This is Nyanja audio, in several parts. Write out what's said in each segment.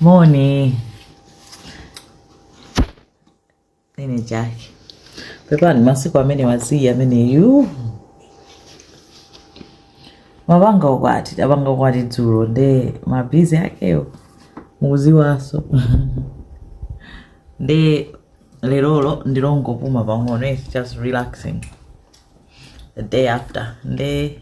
Moni. Ndine Jackie. Pepa ni masiku amene waziwa ameneyu. Napanga ukwati, tapanga ukwati dzulo nde mabizi akewo mukuziwaso. nde lerolo ndikungopuma pang'ono, it's just relaxing. The day after nde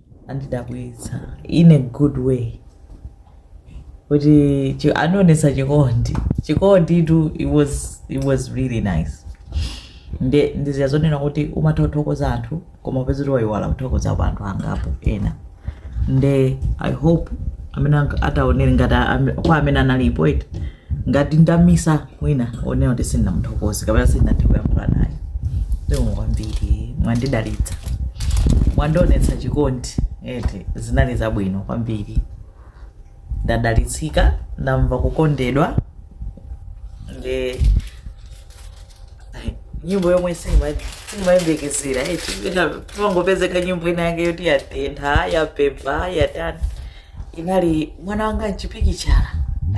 andidabwitsa in a good way kuti chi- anionesa chikondi chikondi tu it was, it was really nice nde ndi zija zonena kuti umatha kuthokoza anthu koma upeza kuti wayiwala kuthokoza kwa anthu angapo ena nde i hope amene anga- ataonere ngati ame- kwa amene analipo eti ngati ndamisa wina onena kuti sindinamuthokoze kapena sindinathe kuyankhula naye zikomo kwambiri mwandidalitsa mwandionetsa chikondi eti zinali zabwino kwambiri ndadalitsika ndamva kukondedwa nde nyimbo yomwe simayembekezera eti pangopezeka nyimbo ina yake yoti yatentha yapempha yatani inali mwana wanga mchipikichala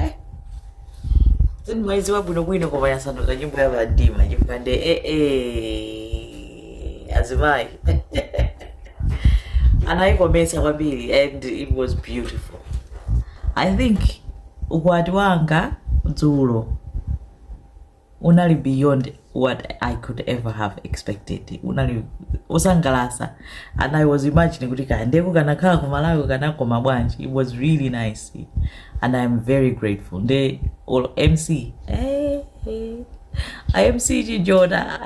eh? sindimaiziwa bwinobwino koma yasanduka nyimbo ya Vadima chipande eh, eh, azimayi anayikomesa kwambiri and it was beautiful i think ukwati wanga dzulo unali beyond what i could ever have expected unali osangalasa and i was imagining kuti kandeko kanakhala ku malawi kanakoma bwanji it was really nice and i am very grateful nde olo mc eh, eh. a mc chijona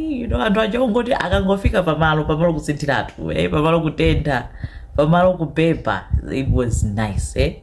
you know anthu ochongoti akangofika pamalo pamalo kusinthiratu eh, pamalo kutentha pamalo kupepa it was nice eh?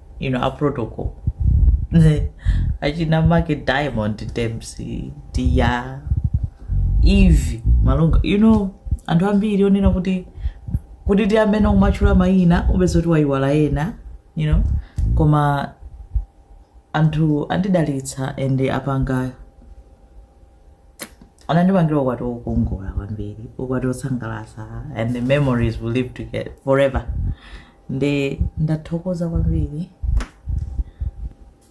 you know a protocol achina make diamond dempsey dia eve malunga you know anthu ambiri onena kuti kuti ndi amene umatchula mayina upeza kuti wayiwala ena you know koma anthu andidalitsa and apanga anandipangira ukwati wokongola kwambiri ukwati wosangalatsa and the memories will live forever nde ndathokoza kwambiri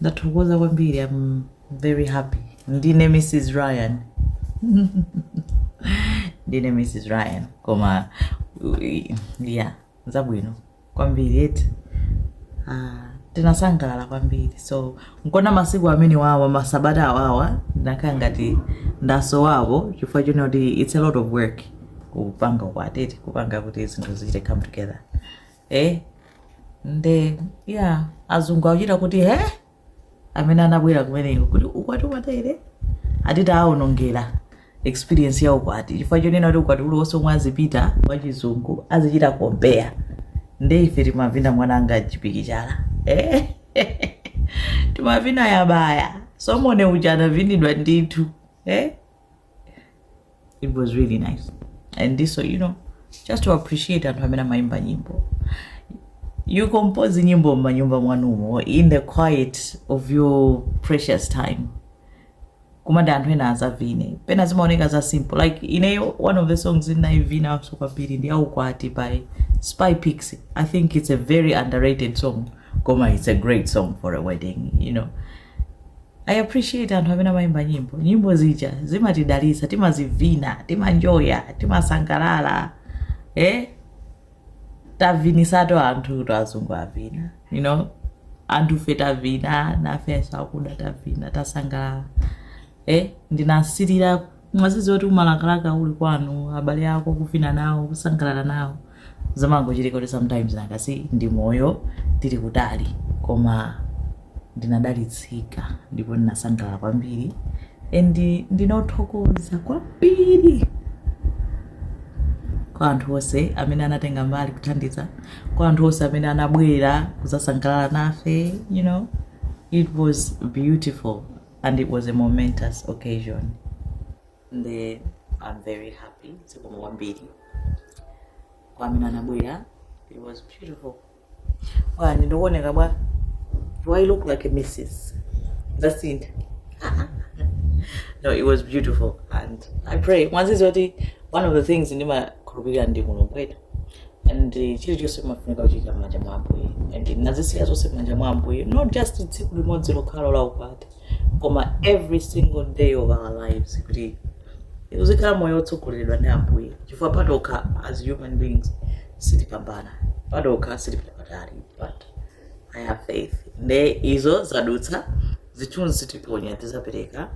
ndathokoza kwambiri i'm very happy ndine mrs ryan ndine mrs ryan koma ui, yeah zabwino kwambiri eti Ah, tinasangalala kwambiri so nchona masiku amene wawa masabata awawa ndakhala ngati ndasowapo chifukwa chonena kuti it's a lot of work kupanga ukwati eti kupanga kuti zinthu zichite come together eh nde yeah azungu akuchita kuti he amene anabwera kumeneko kuti ukwati umatere eti taaonongera experience ya ukwati chifukwa chonena kuti ukwati uliwonse omwe azipita wachizungu azichita compare nde ife timavina mwananga chipiki chala eh? timavina yabaya somone uja anavinidwa ndithu eh? it was really nice and this so you know just to appreciate anthu amene amayimba nyimbo you compose nyimbo mmanyumba mwanumo in the quiet of your precious time kuma anthu ena azavine pena zimaoneka za simple like ineyo one of the songs ndinaivinaso kwambiri ndi ya ukwati by spy pix i think it's a very underrated song koma it's a great song for a wedding you know i appreciate anthu amene amayimba nyimbo nyimbo zija zimatidalitsa timazivina timanjoya timasangalala eh? tavinitsatu anthu eti azungu avina you know anthufe tavina nafe asakuda tavina tasangalala eh ndinasilira mwadziwa woti umalakalaka uli kwanu abale ako kuvina nawo kusangalala nawo zamangochitika kuti sometimes nanga si ndi moyo tili kutali koma ndinadalitsika ndipo ndinasangalala kwambiri and ndinothokoza kwambiri kwa anthu onse amene anatenga mbali kuthandiza kwa anthu onse amene anabwera kuzasangalala nafe you know it was beautiful and it was a momentous occasion nde i'm very happy zikomo kwambiri kwa amene anabwera it was beautiful well ndikuoneka bwa do i look like a mrs zasintha no it was beautiful and i pray mwadziwa kuti one of the things ndimakhulupirira ndi mulungu eti and uh, chilichonse kumafunika kuyika mmanja mwa ambuye and ndazisiya zonse mmanja mwa ambuye not just tsiku limodzi lokhalo la ukwati koma every single day of our lives kuti uzikhala moyo wotsogoleredwa ndi ambuye chifukwa patokha as human beings sitipambana patokha sitipita patali but i have faith nde izo zadutsa zithunzi tiponya tizapereka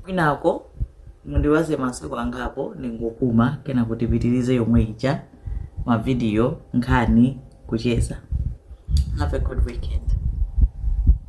kwinako mundiwaze masiku angapo ndingopuma kenako tipitirize yomwe ija mavidiyo nkhani kucheza have a good weekend